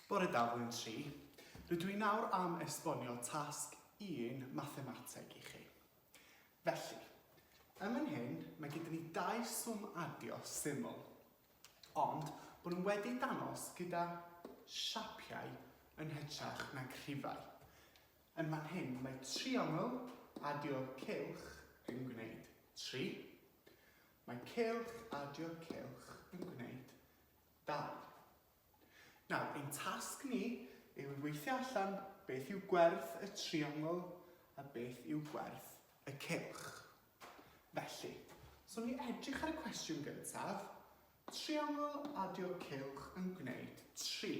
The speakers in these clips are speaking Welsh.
Bore da, Blwyddyn Tri. Rydw i nawr am esbonio tasg un mathemateg i chi. Felly, ym yn hyn, mae gyda ni dau swm adio syml, ond bod nhw wedi danos gyda siapiau yn hytrach na crifau. Yn fan hyn mae triongl adio'r cylch yn gwneud tri. Mae cylch adio'r cylch yn gwneud dau. Nawr, ein tasg ni yw weithio allan beth yw gwerth y triongl a beth yw gwerth y cylch. Felly, os awn ni edrych ar y cwestiwn gyntaf, Triongl adio cylch yn gwneud tri.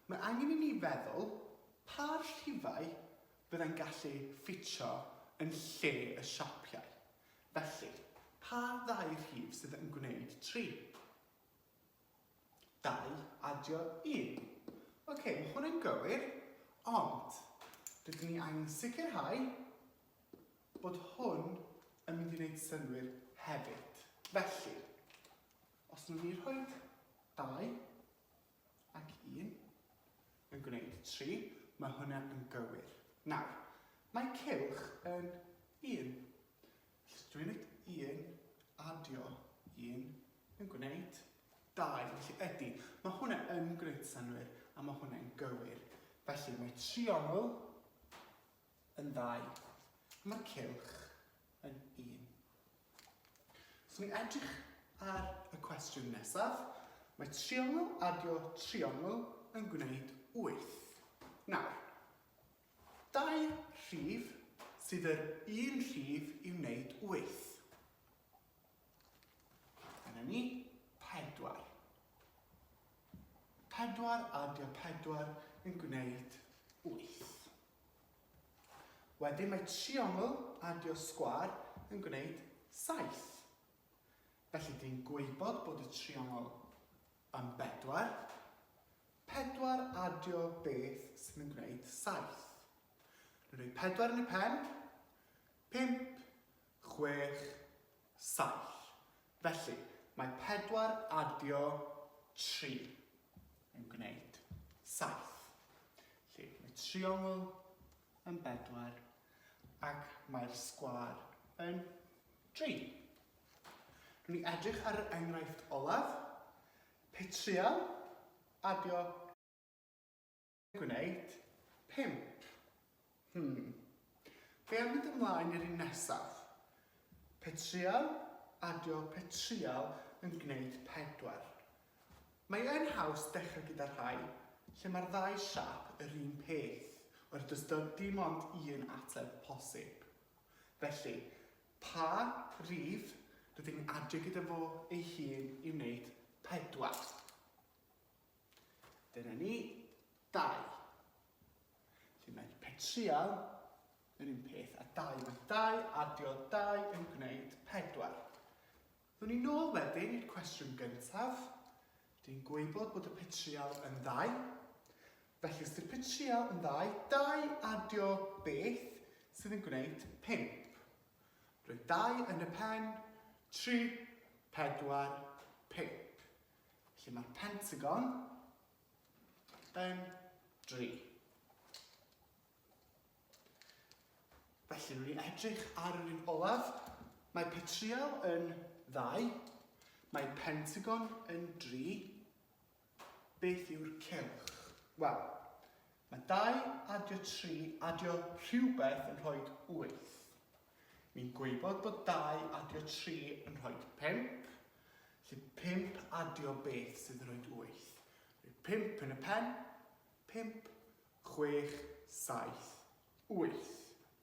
Mae angen i ni feddwl pa rhifau fyddai'n gallu ffitio yn lle y siapiau. Felly, pa ddau rhif sydd yn gwneud tri? Dau adio un. Ocê, mae hwn yn gywir, ond rydyn ni angen sicrhau bod hwn yn mynd i wneud synnwyr hefyd. Felly, os nhw'n ni rhoi 2 ac 1 yn gwneud 3, mae hwnna yn gywir. Nawr, mae cylch yn 1. Felly, dwi'n wneud 1 adio 1 yn gwneud 2. Felly, ydy, mae hwnna yn gwneud synnwyr a mae hwnna'n gywir. Felly, mae triongl yn ddau, a mae'r cylch yn un. Os ni'n edrych ar y cwestiwn nesaf, mae triongl adio triongl yn gwneud wyth. Nawr, dau rhif sydd yr un rhif i wneud wyth. Dyna ni, pedwar. Pedwar adio pedwar yn gwneud wyth. Wedyn mae triongl adio sgwâr yn gwneud saith. Felly dyn gwybod bod y triongl yn bedwar. Pedwar adio beth sydd yn gwneud saith? Rwy'n rhoi pedwar yn y pen. Pump chwech, saith. Felly, mae pedwar adio tri yn gwneud saith. Felly, mae triongl yn bedwar ac mae'r sgwâr yn dri. Rwy'n ni edrych ar yr enghraifft olaf, petriol adio Gwneud? Pump? Hmm. Be am mynd ymlaen i'r un nesaf? Pe trial, adio, pe trial yn gwneud pedwar. Mae yn haws dechrau gyda rhai lle mae'r ddau siap yr un peth, oherwydd does dim ond un ateb posib. Felly, pa rif rydyn ni'n adio gyda fo ei hun i wneud pedwar? Dyna ni, dau. Felly mae petrial yr un peth a dau. Mae dau adio dau yn gwneud pedwar. Dwn ni nôl wedyn i'r cwestiwn gyntaf. Dwi'n gwybod bod y petrial yn ddau. Felly os ydy'r petrial yn ddau, dau adio beth sydd yn gwneud pimp. Roedd dau yn y pen, tri, pedwar, pimp. Lle mae'r Pentagon yn dri. Felly, rwy'n ni edrych ar yr un olaf. Mae petriol yn ddau. Mae Pentagon yn dri. Beth yw'r cylch? Wel, mae dau adio tri adio rhywbeth yn rhoi wyth. Ni'n gwybod bod dau adio tri yn rhoi pump, felly pump adio beth sydd yn rhoi wyth? Rhoi pump yn y pen, pump, chwech, saith, wyth.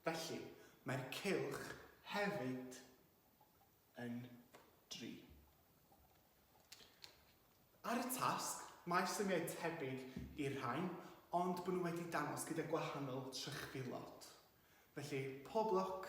Felly, mae'r cylch hefyd yn dri. Ar y tasg, mae symiau tebyg i'r rhain, ond bod nhw wedi dangos gyda gwahanol trychfilod. Felly, pob lwc!